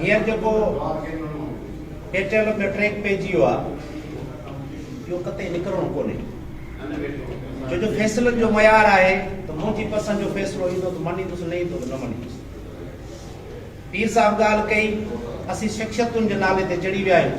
هينئر جيڪو title of the track پئجي ويو آهي اهو قطعي نڪرڻو ڪونهي جو جو فيصلن جو معيار آهي ته منهنجي پسند جو فيصلو ايندو ته مڃيندس نه ايندو ته نه مڃيندس پير صاحب ڳالهه ڪئي اسين شخصيتن جي نالي تي چڙهي ويا آهيون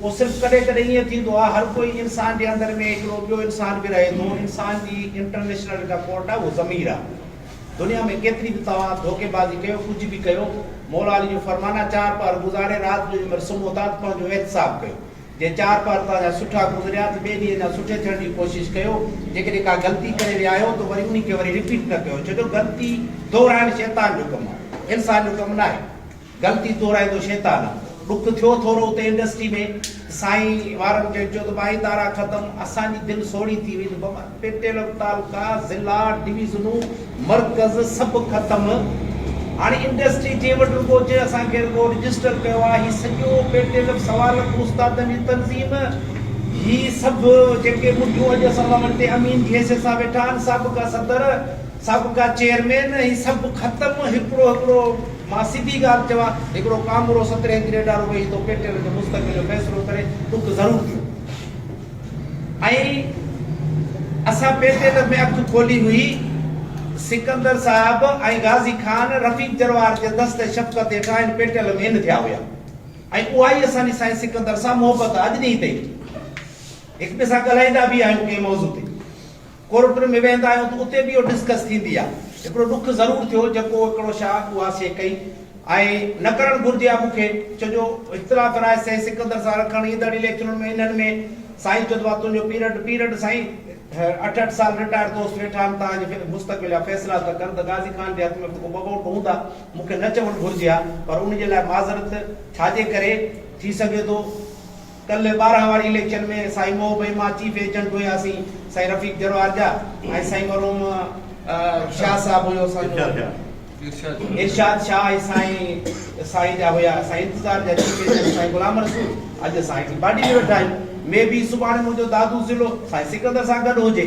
اهو صرف ڪڏهن ڪڏهن ائين ٿيندو آهي، هر ڪوئي انسان جي اندر ۾ هڪڙو ٻيو انسان به رهي ٿو، انسان جي انٽرنيشنل جيڪا ڪورٽ آهي اهو ضمير آهي، دنيا ۾ ڪيتري به توهان ڌوڪيبازي ڪيو ڪجهه به ڪيو، مولا علي جو فرمان آهي چار پهر گذاري رات جو جنهن مهل سمهو ٿا ته پنهنجو احتساب ڪيو، جي چار پهر توهان جا سٺا گذريا ته ٻئي ڏينهن اڃا سٺي ٿيڻ جي ڪوشش ڪيو، جيڪڏهن ڪا غلطي ڪري ويا آهيو ته وري انهي کي وري رپيٽ نه ڪيو، ڇو جو غلطي دهرائڻ شيطان جو ڪم آهي، انسان جو ڪم ناهي. غلطي تورائيندو شيطان آ. ڏک ٿيو ٿورو اتي انڊسٽري ۾ ته سائين وارن کي چيو ته ٻائي تارا ختم اسان جي دل سوڙهي ٿي وئي ته بابا پيٽيل تعلقا ضلعا ڊويزنون مرڪز سڀ ختم هاڻي انڊسٽري جنهن وٽ رڳو جنهن اسان کي رڳو رجسٽر ڪيو آ هي سڄو پيٽيل سوالڪ استادن جي تنظيم هي سڀ جيڪي مٺيون اڄ اسان سان وٽ تي امين جي حيثيت سان ويٺا آهن سابقا صدر سڀ ڪا چيئرمين ۽ سڀ ختم هڪڙو هڪڙو مان سڌي ڳالهه چوان هڪڙو ڪامورو سترهين گريڊ وارو ويهي ٿو پيٽيل جو مستقبل جو فيصلو ڪري ڏک ضرور ٿيو ۽ اسان پيٽيل ۾ اک کولي هئي سڪندر صاحب ۽ غازي خان رفيق جروار جي دست شفقت هيٺان هن پيٽيل ۾ ان ٿيا هيا ۽ اها ئي اسان جي سائين سڪندر سان محبت آج ڏينهن تائين هڪ ٻئي سان ڳالهائيندا به آهيون ڪنهن موضوع تي ڪورٽن ۾ ويهندا آهيون ته اتي به اهو ڊسڪس ٿيندي آهي. هڪڙو ڏک ضرور ٿيو جيڪو هڪڙو شاهه اها سي ڪئي ۽ نه ڪرڻ گهرجي ها مون کي ڇو جو اختلاف راء سين سڪندر سان رکڻ ايندڙ اليڪشنن ۾ انهن ۾ سائين چوڌو آ تنهنجو پيرڊ پيرڊ سائين اٺ اٺ سال رٽائر دوست ويٺا آهن تان جي مستقبل جا فيصلا ته ڪن ته غازي خان جي هٿ ۾ به ڪو ٻه ووٽ هوندا مون کي نه چوڻ گهرجي ها پر ان جي لاء معذرت ڇا جي ڪري ٿي سگهي ٿو ڪلهه ٻارهن واري اليڪشن ۾ سائين محب ۽ مان چيف ايجنٽ هياسين سائين رفيق جروار جا ۽ سائين مرحوم شاهه صاحب هيو اسان جو ارشاد شاهه ۽ سائين سائين جا هيا سائين انتظار جا چيف ايجنٽ سائين غلام رسول اڄ اسان هيٺين باڊي ۾ ويٺا آهيون مي بي سڀاڻي منهنجو دادو ضلعو سائين سڪندر سان گڏ هجي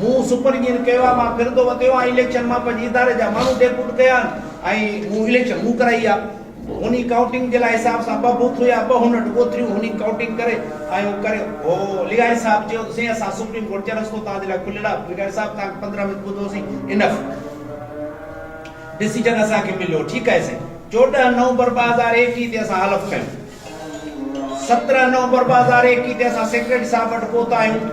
مون سپر جين ڪيوا مان ڦرندو وتيو آهيان اليڪشن مان پنهنجي اداري جا ماڻهو ڊيپوٽ ڪيا آهن ۽ مون اليڪشن مون ڪرائي آ هوني ڪائونٽنگ جي لاء حساب سان ٻه بوٿ هيا ٻه هونٽ ڳوٿريون هوني ڪائونٽنگ ڪري آيو ڪري هو لغاري صاحب چيو ته سائين اسان سپريم ڪورٽ جا رستو توهان جي لاء کليل آ لغاري صاحب توهان کي پندرهن منٽ ٻڌو سين انف ڊسيجن اسان کي مليو ٺيڪ آهي سائين چوڏهن نومبر ٻه هزار ايڪيهه تي اسان حلف کنيو سترهن نومبر ٻه هزار ايڪيهه تي اسان سيڪريٽري صاحب وٽ پهتا آهيون.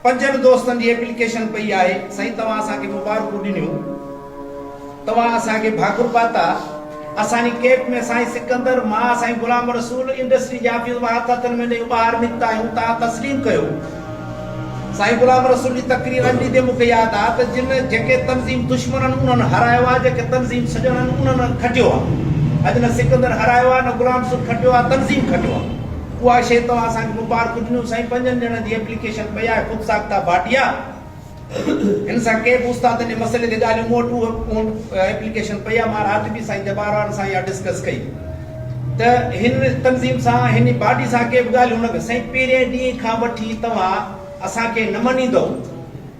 پنجن دوستن جي ايپليڪيشن پئي آهي. سائين توهان اسان کي مبارڪون ڏنيون. توهان اسان کي ڀاڪر پاتا. اسان جي ڪيپ ۾ سائين سڪندر، مان، سائين غلام رسول، انڊسٽري جي آفيس مان هٿ هٿن ۾ ڏئي اٻاهر نڪتا آهيون. توهان تسليم ڪيو. سائين غلام رسول جي تقرير اڄ ڏيندي مون کي ياد آ ته جن جيڪي تنظيم دشمنن انهن هارايو آ جيڪي تنظيم سڄڻن انهن کٽيو آ اڄ نه سڪندر هارايو آ نه غلام رسول کٽيو آ تنظيم کٽيو آ اها شي توهان اسان کي مبارڪون ڏنيون سائين پنجن ڄڻن جي ايپليڪيشن پئي آهي خود ساخته ڀاٽيا هن سان ڪي به استادن جي مسئلي تي ڳالهيون مون وٽ اهو اهو ايپليڪيشن پئي آهي مان رات به سائين جبار وارن سان اها ڊسڪس ڪئي ته هن تنظيم سان هن باڊي سان ڪي به ڳالهيون نه ڪيون سائين پهرين ڏينهن کان وٺي توهان اسان کي نه مڃيندؤ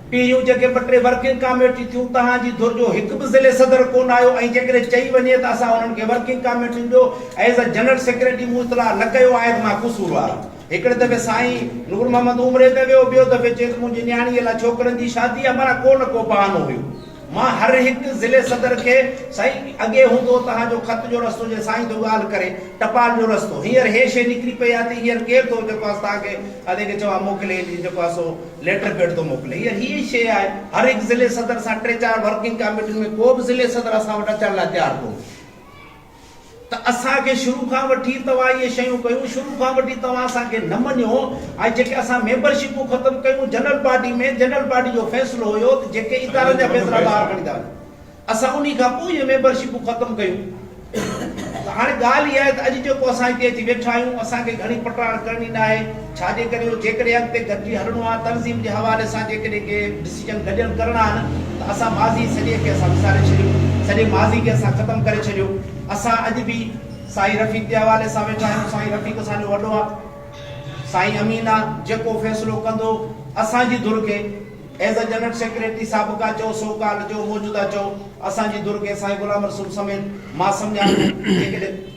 پهريون جيڪي ٻه ٽي ورڪنگ ڪاميٽي ٿيون تهان جي ڌر جو هڪ به ضلعي صدر ڪونه آيو ۽ جيڪڏهن چئي وڃي ته اسان انهن کي ورڪنگ ڪاميٽين جو ايز اي جنرل سيڪريٽري مون اطلاع نه ڪيو آهي ته مان قصوروار آهيان. هڪڙي دفعي سائين نور محمد عمري ته ويو، ٻيو دفعي چيس منهنجي نياڻيء لاء ڇوڪرن جي شادي آ، معنيٰ ڪو نه ڪو بهانو هيو. مان هر هڪ ضلعي صدر کي سائين اڳي هوندو توهان جو خط جو رستو جي سائين ٿو ڳالهه ڪري ٽپال جو رستو هينئر هي شي نڪري پئي آ ته هينئر ڪير ٿو جيڪو آس توهان کي ادي کي چوان موڪلي جي جيڪو آ سو ليٽر پيڊ ٿو موڪلي هينئر هي ئي شي آهي هر هڪ ضلعي صدر سان ٽي چار ورڪنگ ڪاميٽين ۾ ڪو به ضلعي صدر اسان وٽ اچڻ لاء تيار ڪونهي. ته اسان کي شروع کان وٺي توهان اهي شيون ڪيون شروع کان وٺي توهان اسان کي نه مڃيو ۽ جيڪي اسان ميمبر شپون ختم ڪيون جنرل باڊي ۾ جنرل باڊي جو فيصلو هيو ته جيڪي ادارن جا فيصلا ٻاهر کڻيندا وڃن اسان انهي کان پوء اهي ميمبر شپون ختم ڪيون ته هاڻي ڳالهه اها آهي ته اڄ جيڪو اسان هتي اچي ويٺا آهيون اسان کي گهڻي پٽاڙ ڪرڻي ناهي ڇا جي ڪري اهو جيڪڏهن اڳتي گڏجي هلڻو آهي تنظيم جي حوالي سان جيڪڏهن ڪي ڊسيزن گڏيل ڪرڻا آهن ته اسان ماضي سڄي کي اسان وساري ڇڏيو سڄي ماضي کي اسان ختم ڪري ڇڏيو اسان اڄ به سائين رفيق جي حوالي سان ويٺا آهيون سائين رفيق اسان جو وڏو آهي سائين امين آهي جيڪو فيصلو ڪندو اسان جي ڌر کي ايز اي جنرل سيڪريٽري سابقا چئو سو ڪالڊ چئو موجوده چئو اسان جي ڌر کي سائين غلام رسول سميت مان سمجهان ٿو جيڪڏهن